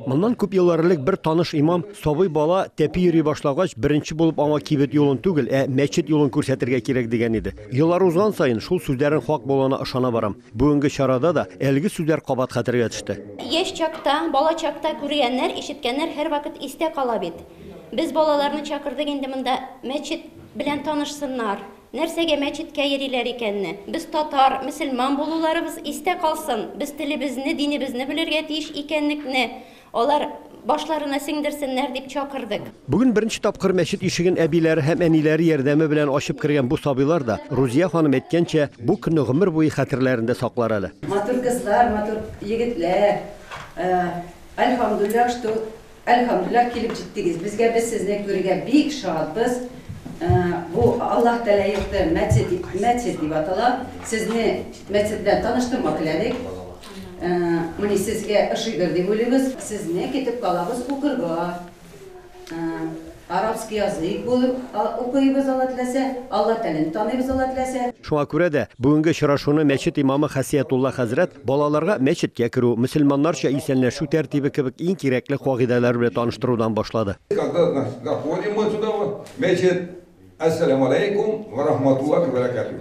Моннан күп еллар элек бер таныш имам сабый бала тәпи йөри башлагач, беренче булып аңа кибет юлын түгел, ә мәчет юлын күрсәтергә кирәк дигән иде. Еллар узган саен шул сүзләрнең хак булуына ышана барам. Бүгенге чарада да әлеге сүзләр кабат хәтергә төште. Яшь чакта, бала чакта күргәннәр, ишеткәннәр һәрвакыт истә кала бит. Без балаларны чакырдык инде монда мәчет белән танышсыннар, Нәрсәгә мәчеткә йөриләр икәнне? Без татар, мөселман булуларыбыз истә калсын, без телебезне, динебезне белергә тиеш икәнлекне алар башларына сеңдерсеннәр дип чакырдык. Бүген беренче тапкыр мәчет ишеген әбиләре һәм әниләре ярдәме белән ачып кергән бу сабыйлар да, Рузия ханым әйткәнчә, бу көнне гомер буе хәтерләрендә саклар әле. Матур кызлар, матур егетләр. Альхамдуллилла, что Әлхәмдүлилләһ килеп җиттегез безгә без сезне күрергә бик шатбыз бу Аллаһ Тәләйекты мәчет мәчет дип атала сезне мәчет белән таныштырма теләдек мени сезгә ошыйдыр дип уйлыйбыз сезне китеп калабыз укырга. Арабский язык булып укыйбыз, Алла теләсә, Алла телен таныйбыз, Алла теләсә. Шуңа күрә дә, бүгенге очрашуны мәчет имамы Хәсиятулла хәзрәт балаларга мәчеткә керү, мөселманнарча исәнләшү тәртибе кебек иң кирәкле кагыйдәләр белән таныштырудан башлады. Когда заходим мы туда, в мәчет, Әссәләмү аләйкүм вә рахматуллаһи вә бәрәкәтүһ.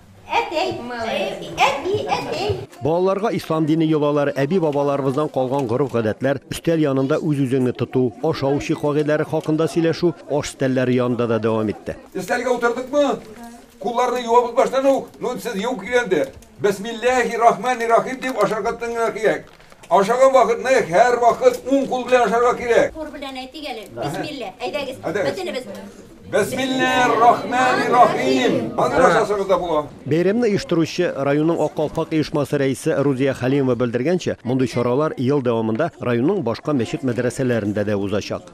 Әтәй, әби, әтәй. Балаларга ислам дине йолалары, әби-бабаларыбыздан калган гореф-гадәтләр, өстәл янында үз-үзеңне тоту, ашау-эчү кагыйдәләре хакында сөйләшү аш өстәлләре янында да дәвам итте. Өстәлгә утырдыкмы, кулларны юабыз баштан ук, ну, сез юк дигәндә, Бәсмилләһи рахмани рахим дип ашарга тыңларга кирәк. Ашаган вакытны һәрвакыт уң кул белән ашарга кирәк. Хур белән әйтик әле. Бисмиллә. Әйдәгез, бөтенебез. Бәсмиллә рахмәни рахим. Хәзер ашасагыз да була. Бәйрәмне оештыручы, районның Ак калфак оешмасы рәисе Рузия Хәлимова белдергәнчә, мондый чаралар ел дәвамында районның башка мәчет-мәдрәсәләрендә дә узачак.